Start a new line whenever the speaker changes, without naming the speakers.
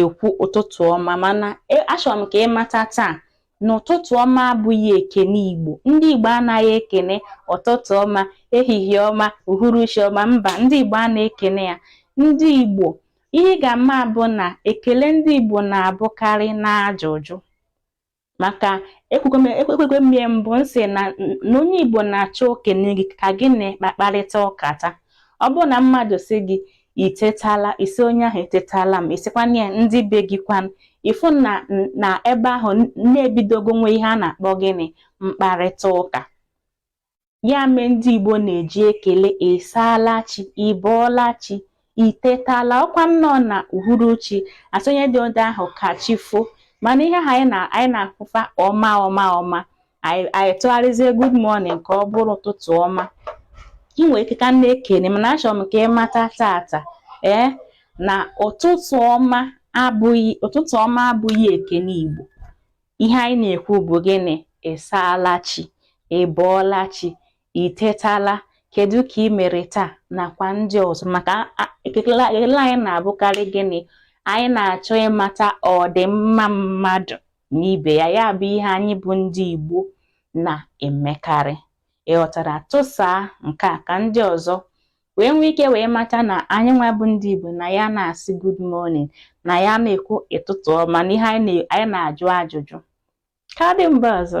ekwu ụtụtụ ọma mana e, achọrọ m ka ị mata taa na ụtụtụ ọma abụghị ekene Igbo ndị Igbo anaghị ekene ụtụtụ ọma ehihie ọma uhuruchi ọma mba ndị Igbo anaghị ekene ya ndị Igbo ihe ị ga-ama bụ na ekele ndị Igbo na-abụkarị n'ajụjụ maka ekwukwa m ya mbụ m sị na onye Igbo na-achọ o kene gị ka gị na ya kparịta ụka taa ọ bụrụ na mmadụ sị gị i tetala ị sị onye ahụ etetala m ị sịkwanụ ya ndị be gị kwanụ ị fụ na n'ebe ahụ na e bidogo nwee ihe a na-akpọ gịnị mkparịta ụka Ya mere ndị Igbo na-eji ekele ị saala chi, ị bọọla chi, i tetala ọ kwa nnọọ n'uhuruchi a sị onye dị ụdị ahụ ka chi fo mana ihe ahụ anyị na-afụ fa ọma ọma ọma anyị tụgharịzie good morning ka ọ bụrụ ụtụtụ ọma i nwere ike ka na-ekene mana achọrọ m ka ị mata tata ee na ụtụtụ ọma abụghị ụtụtụ ọma abụghị ekene Igbo ihe anyị na-ekwu bụ gịnị ị saala chi ị bọọla chi i tetala kedu ka i mere taa nakwa ndị ọzọ maka ekele anyị na-abụkarị gịnị anyị na-achọ ịmata ọdịmma mmadụ na ibe ya ya bụ ihe anyị bụ ndị Igbo na-emekarị ị ghọtara tụsaa nke a ka ndị ọzọ wee nwee ike wee mata na anyị nwa bụ ndị Igbo na anyị anaghị asị good morning na anyị anaghị ekwu ụtụtụ ọma na ihe anyị na-ajụ ajụjụ ka ọ dị mgbe ọzọ